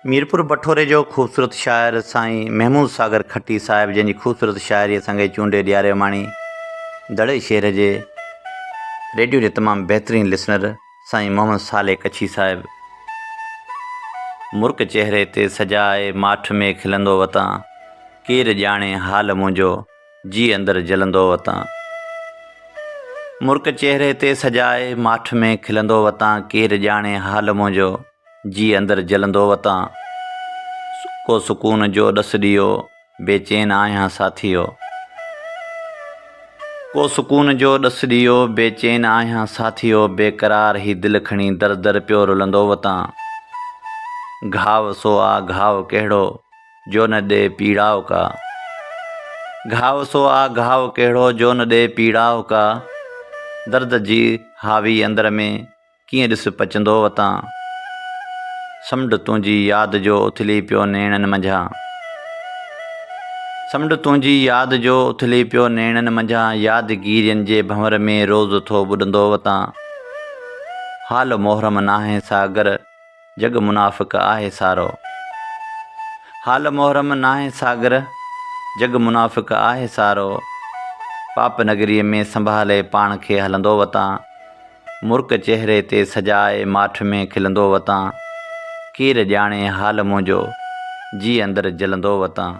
ميرپور بٺوري جو خوبصورت شاعر سائين محمود ساگر کٽي صاحب جنهن جي خوبصورت شاعريء سانگي چونڊي ڏياريوماڻي دڙي شهر جي ريڊيو جي تمام بهترين لسنر سائين محمد صالح ڪڇي صاحب مرڪ چهري تي سجاء ماٺ ۾ کلندو وتان ڪير ڄاڻي حال منهنجو جيء اندر جلندو وتان. مرڪ چهري تي سجائي، ماٺ ۾ کلندو وتان ڪير ڄاڻي حال منهنجو، جيء اندر جلندو وتان. ڪو سڪون جو ڏس ڏيئو، بيچين آهيان ساٿيو. ڪو سڪون جو ڏس ڏيئو، بيچين آهيان ساٿيو بي قرار هي دل کڻي در در پيو رلندو وتان. گهاء سو آ گهاء ڪهڙو؟ جو نه ڏي پيڙاء ڪا. گهاء سو آ گهاء ڪهڙو جو نه ڏي پيڙاء ڪا. درد جي هاوي اندر ۾ ڪيئن ڏس پچندو وتان. سمنڊ تنهنجي ياد جو اٿلي پيو نيڻن منجهان. سمنڊ تنهنجي ياد جو اٿلي پيو نيڻن منجهان يادگيرين جي ڀنور ۾ روز ٿو ٻڏندو وتان. حال محرم ناهه ساگر. جڳ منافق آهي سارو. حال محرم ناهي ساگر، جڳ منافق آهي سارو. پاپ نگريء ۾ سنڀالي پاڻ کي هلندو وتان. مرڪ چهري تي سجائي ماٺ ۾ کلندو وتان. ڪير ڄاڻي حال منهنجو، جيء اندر جلندو وتان.